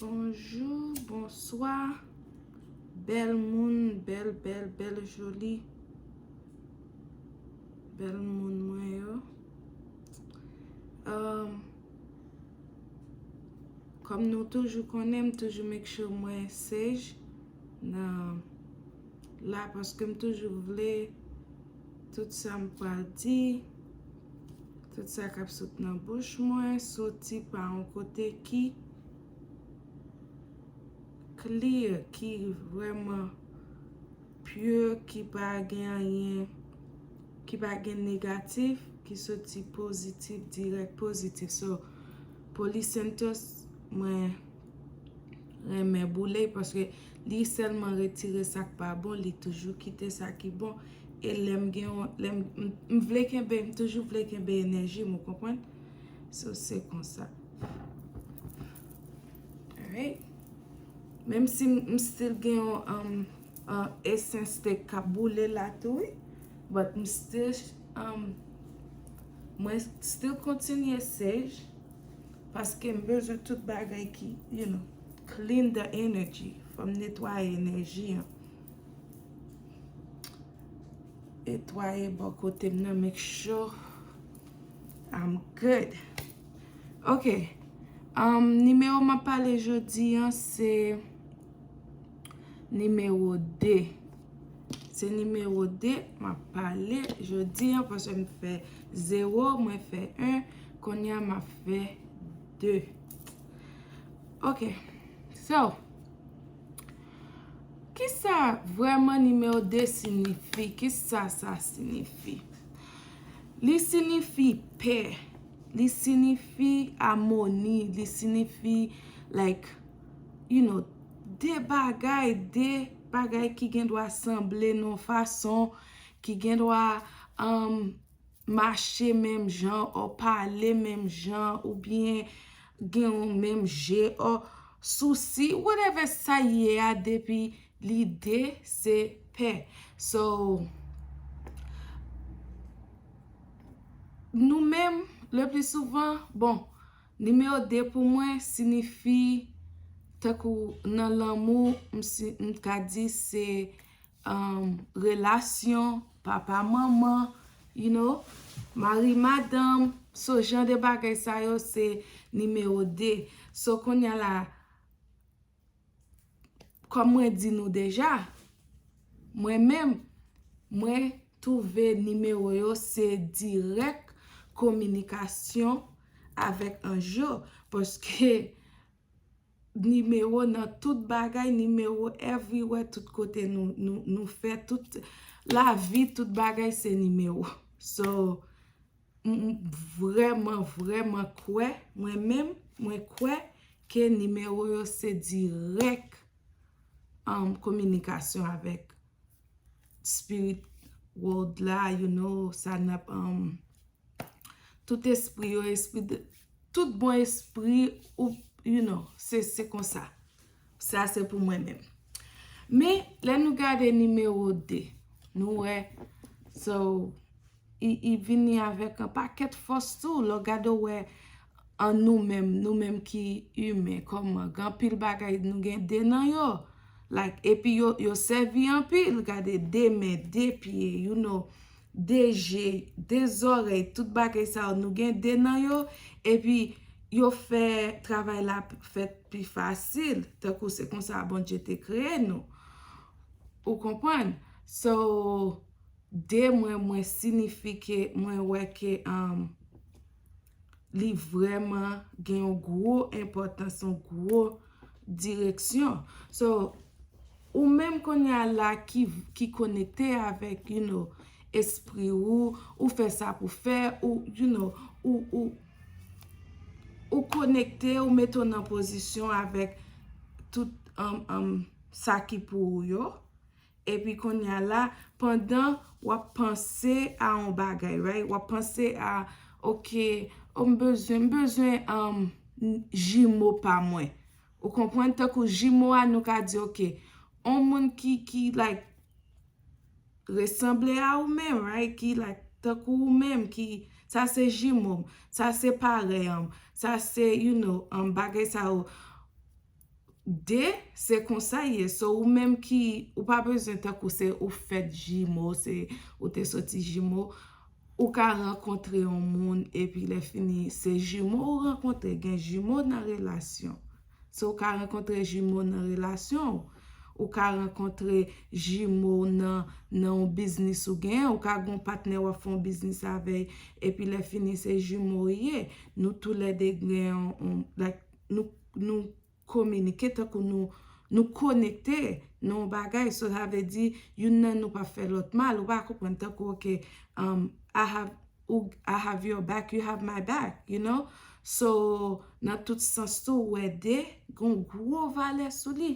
Bonjou, bonswa, bèl moun, bèl, bèl, bèl joli, bèl moun mwen yo. Euh, Kòm nou toujou konnen, m toujou make sure mwen sage nan la paske m toujou vle tout sa m pral di. Tout sa kap sot nan bouch mwen soti pa yon kote ki clear, ki vrèman pure, ki pa gen anyen, ki pa gen negatif, ki soti pozitif, dirèk pozitif. So, Poly Santos mwen renmen boule paske Li sèlman retire sak pa bon li toujou kite sa ki bon e lèm gen yon lèm m vle kenbe m toujou vle kenbe enèjim ou konprann so se konsa alright menm si m still gen yon esens de kap boule la tou wi but m still mwen still kontinye sej. Paske m bezwen tout bagay ki you know clean the energy fò m netwaye enèji an netwaye bò kote m nan make sure I'm good ok nimewo m ap pale jodi an se Nimewo 2. Se nimewo 2 m ap pale jodi an paske m fè 0, mwen fè 1, kounye a m ap fè 2. Ok, so, kisa vreman nimewo 2 sinifi? Kisa sa sinifi? Li sinifi pè, li sinifi amoni, li sinifi like. You know, de bagay, de bagay ki gen dwa sanble nan yon fason, ki gen dwa mache menm jan, o pale menm jan, ou byen gen yon menm je, o sousi, whatever sa ye a depi li de se pè. So, nou menm, le pli souvan, bon, Nimewo 2 pou mwen sinifi tankou nan lanmou m ka di se relasyon papa manman you know mari madanm so jan de bagay sa yo se nimewo 2 so kounye la Kòm mwen di nou deja, mwen menm, mwen twouve nimewo yo se dirèk kominikasyon avèk anj yo. Paske nimewo nan tout bagay, nimewo everywhere, tout kote nou fè, tout lavi, tout bagay se nimewo. So, M vrèman vrèman kwè, mwen menm, mwen kwè ke nimewo yo se dirèk an kominikasyon avèk spirit world la, you know, sa n ap, tout espri yo, espri de, tout bon espri, ou, you know, se konsa. Sa se pou mwen menm. Men, lè nou gade nimewo 2, nou wè, so, li vini avèk yon pakèt fòs tou. Lè w gade ou wè an nou menm, nou menm ki imen, kòman, gen anpil bagay nou gen 2 nan yo. Like, epi yo sèvi anpil. Gade, 2 men, 2 pye, you know. 2 je, 2 zòrèy, tout bagay sa yo, nou gen 2 nan yo, epi yo fè travay la fèt pi fasil, tankou se konsa Bondye te kreye nou. Ou konprann? So, 2 mwen, mwen sinifi ke mwen wè ke. li vreman gen yon gwo enpotans, yon gwo direksyon. So, ou menm kounye a la ki konekte avèk, you know, espri ou, ou fè sa pou fè, ou, you know, ou konekte, ou mete ou nan pozisyon avèk tout sa ki pou ou yo, Epi konnya la, pandan w ap panse a yon bagay, right, w ap panse a, ok, o m bezwen, m bezwen jimo pa mwen. Ou konprann? Tankou jimo a nou ka di ok, yon moun ki, ki like, resanble a ou menm, right, ki like tankou ou menm, ki, sa se jimo m, sa se parèy an m, sa se, you know, bagay sa yo. 2 se konsa ye so ou menm ki ou pa bezwen tankou se ou fèt jimo se ou te soti jimo ou ka rankontre yon moun epi lè fini se jimo ou rankontre gen jimo nan relasyon so ou ka rankontre jimo nan relasyon ou ka rankontre jimo nan yon biznis ou gen ou ka gon patnè wap fon biznis avèy epi lè fini se jimo ou ye nou tou lè 2 gen yon like nou. nou kominike, tankou nou konekte nan yon bagay. So sa vle di, youn nan nou pa fè lòt mal, ou pa konprann? Tankou ok, I have, I have your back, you have my back, you know? So, nan tout sans tou, ou wè de, gen yon gwo valè sou li.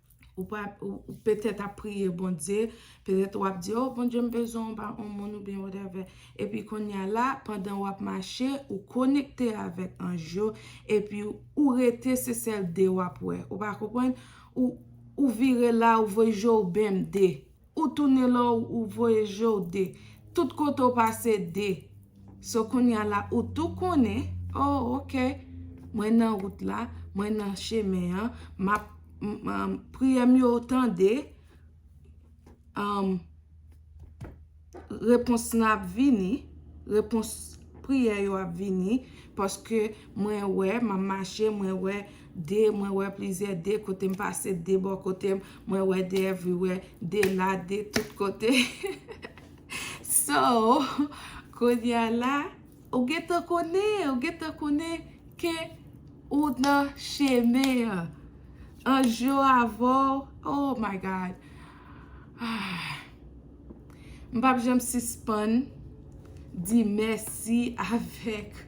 Ou pa, ou petèt ap priye Bondye, petèt ou ap di, o Bondye m bezwen w ba on moun oubyen whatever. Epi konnya la, pandan w ap mache, ou konekte avèk anj yo, epi ou rete se sèl 2 w ap wè. Ou pa konprann? Ou, ou vire la, ou voye je w bmde. Ou tounen lò ou voye je w 2. Tout kote w pase 2. So kounya la ou tou konnen, oh ok, mwen nan wout la, mwen nan chemen an, m ap, priyè m yo ou tande, repons lan ap vini, repons priyè yo ap vini, paske mwen wè, m ap mache, mwen wè de mwen wè plizyè de kote m pase de bò kote m mwen wè de evriwè de la de tout kote so kounye a la ou gen tan konnen ou gen tan konnen ke ou nan chemen an anj yo avè w oh my God aah m pap janm sispann di mèsi avèk.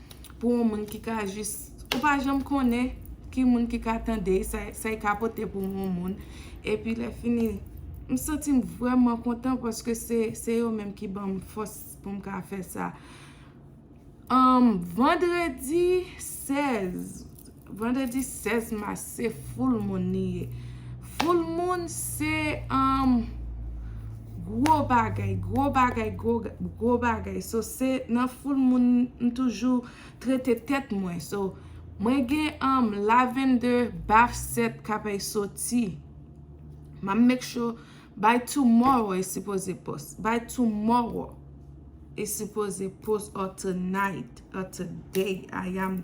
pou yon moun ki ka jis, ou pa janm konnen ki moun ki ka tande, sa y ka pote pou yon moun. E pi lè fini, m santi m vrèman kontan paske se yo menm ki ban m fòs pou m ka fè sa. Vandredi 16. Vandredi 16 mas se foul moun li ye. Foul moun se um gwo bagay, gwo bagay, gwo bagay. So se nan foul moun m toujou trete tèt mwen. So mwen gen um lavende, baf 7 k apèy soti. M ap make sure by tomorrow e sipoze post. By tomorrow e sipoze post or tonight or today I am.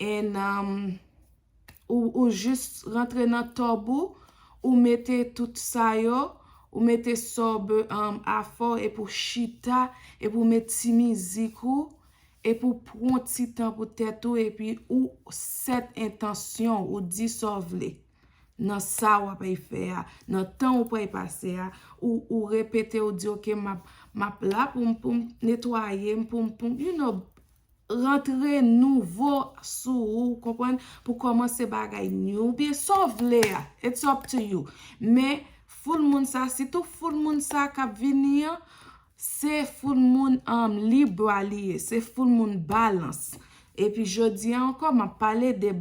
and ou jis rantre nan tub ou, ou mete tout sa yo, ou mete sobe an afo epi ou chita, epi ou met ti mizik ou, epi ou pran ti tan pou tèt ou epi ou set entansyon ou di sa w vle nan sa w ap fè a, nan tan ou pral pase a, ou repete ou di ok m ap la pou m netwaye m pou m you know. rantre nouvo sou ou konprann pou kòmanse bagay new byen sa w vle a it's up to you men foul moun sa sitou foul moun sa kap vini an se foul moun an libra li ye se foul moun balans epi jodi an ankò map pale de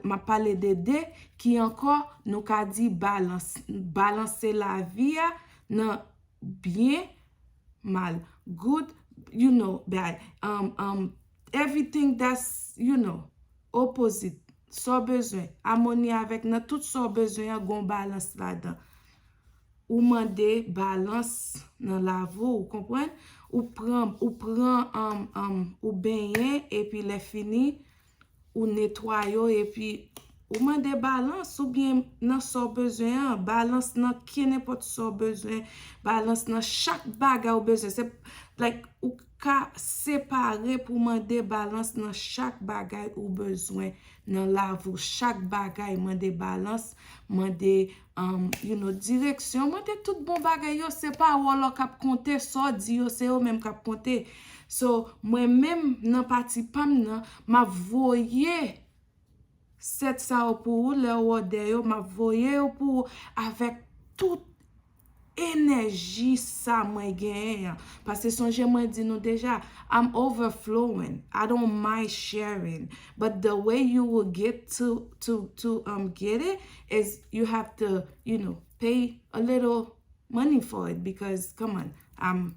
map pale de de ki ankò nou ka di balans balanse lavi a nan byen, mal, good, you know, bad, um, um, everything that's, you know, opposite, sa w bezwen, amoni avèk nan tout sa w bezwen an gen yon balans ladan. Ou mande balans nan lavi w, ou konprann? Ou pran, ou pran, um, um, ou benyen epi lè fini, Ou netwa yo epi Ou mande balans ou byen nan sa w bezwen an, balans nan kenenpòt sa w bezwen, balans nan chak bagay ou bezwen. Se like ou ka separe pou w mande balans nan chak bagay ou bezwen nan lavi w. Chak bagay mande balans, mande You know, direksyon mwen te tout bon bagay yo, se pawòl ou kap konte, sa w di yo se yo menm kap konte. So, mwen menm nan pati pa m nan, m ap voye 7 sa yo pou ou, lè ou òdè yo, m ap voye yo pou ou avèk tout. enèji sa mwen genyen an, pase sonje mwen di nou deja, I'm overflowing, I don't mind sharing, but the way you will get to, to, to, um, get it, is you have to, you know, pay a little money for it, because, come on, I'm.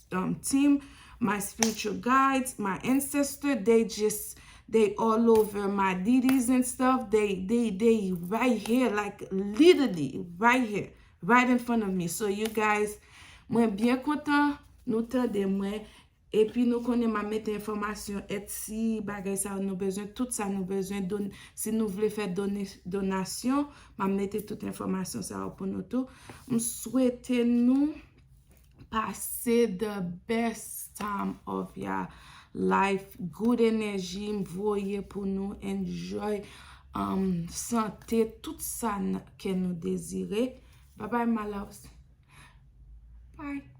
team my spiritual guides my ancestor they just they all over my dd's and stuff they they they right here like literally right here right in front of me so you guys mwen byen kontan nou tande mwen epi nou konnen ma mete enfomasyon et si bagay sa nou bezwen tout sa nou bezwen don si nou vle fè done donasyon ma mete tout enfomasyon sa pou nou tou m swete nou pase the best time of ya life good energy m voye pou nou enjoy um sante tout sa kè nou dezire babay my loves bye.